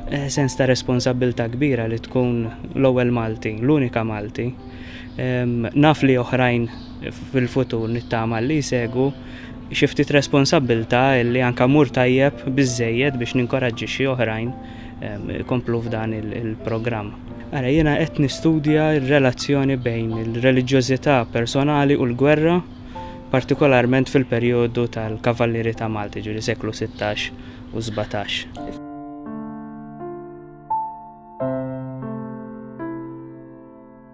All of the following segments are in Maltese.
Eh, sens ta' responsabilta kbira li tkun l-ewwel Malti, l-unika Malti. Naf li oħrajn fil-futur nittama li jsegu xiftit responsabilta li anka mur tajjeb biżejjed biex ninkoraġġixxi oħrajn ikomplu f'dan il-programm. Ara, jiena qed nistudja r-relazzjoni bejn il-reliġjożità personali u l-gwerra, partikolarment fil-perjodu tal-Kavallieri ta' Malta, jiġifieri seklu sittax u sbatax.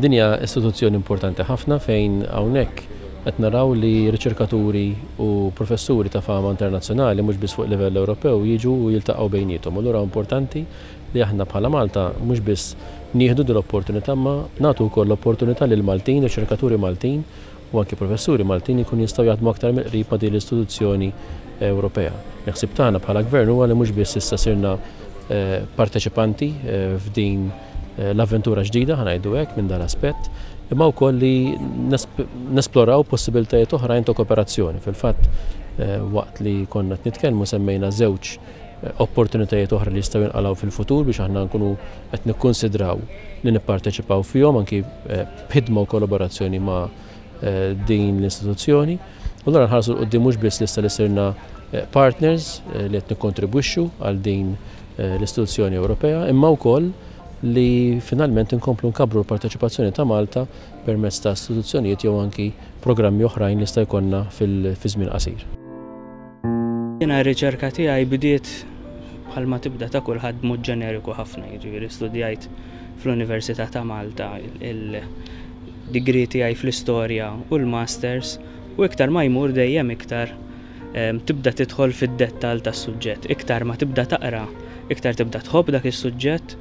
Din hija istituzzjoni importanti ħafna fejn hawnhekk qed naraw li riċerkaturi u professuri ta' fama internazzjonali mhux biss fuq livell Ewropew jiġu u jiltaqgħu bejniethom. Allura huwa importanti li aħna bħala Malta mhux biss nieħdu din l-opportunità imma nagħtu wkoll l-opportunità lil Maltin, riċerkaturi Maltin u anki professuri Maltin li jkunu jistgħu jaħdmu aktar mill-qrib ma' din l-istituzzjoni Ewropea. Il-ħsieb tagħna bħala Gvern huwa li mhux biss issa sirna parteċipanti f'din l-avventura ġdida, ħanajdu hekk, minn dan aspett, imma wkoll li nesploraw possibiltajiet oħrajn ta' kooperazzjoni. Fil-fatt, eh, waqt li konna nitkellmu semmejna żewġ eh, opportunitajiet oħra li jistgħu jinqalgħu fil-futur biex aħna nkunu qed nikkunsidraw li nipparteċipaw fihom anki eh, b'ħidma u kollaborazzjoni ma' din l-istituzzjoni. U allura nħarsu l qudiem mhux biss lista li sirna eh, partners eh, li qed nikkontribwixxu għal din eh, l-istituzzjoni Ewropea, imma wkoll li finalment inkomplu nkabru l-parteċipazzjoni ta' Malta permezz ta' istituzzjonijiet jew anki programmi oħrajn li sta' jkollna fil-żmien qasir. Jiena r-riċerka tiegħi bdiet bħalma tibda ta' kulħadd b'mod ġeneriku ħafna, jiġifieri studjajt fl-Università ta' Malta il-degree tiegħi fl-istorja u l-masters u iktar ma jmur dejjem iktar tibda tidħol fid-dettall tas-suġġett. Iktar ma tibda taqra, iktar tibda tħobb dak is-suġġett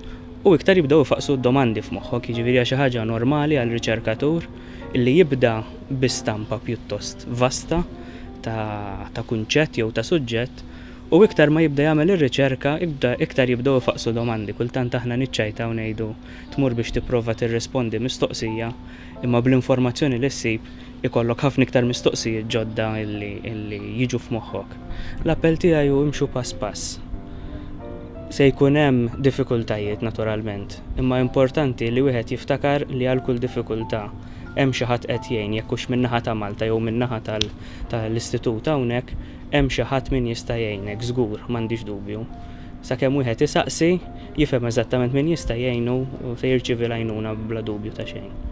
u iktar jibdew ifaqqsu d-domandi f'moħħok, jiġifieri hija xi ħaġa normali għal riċerkatur illi jibda bi stampa pjuttost vasta ta' kunċett jew ta' suġġett u iktar ma jibda jagħmel ir-riċerka iktar jibdew ifaqqsu domandi. Kultant aħna niċċajta u ngħidu tmur biex tipprova tirrispondi mistoqsija imma bl-informazzjoni li ssib ikollok ħafna iktar mistoqsijiet ġodda li jiġu f'moħħok. L-appell tiegħi hu imxu pass pass. Se jkun hemm diffikultajiet naturalment imma importanti li wieħed jiftakar li għal kull diffikultà hemm xi ħadd qed jgħin jekk hux min-naħa ta' Malta jew min-naħa tal-Istitut hawnhekk, hemm xi ħadd min jista' jgħinek żgur, m'għandix dubju. Sakemm wieħed isaqsi, jifhem eżattament min jista' jgħinu u se jirċievi l-għajnuna bla dubju ta' xejn.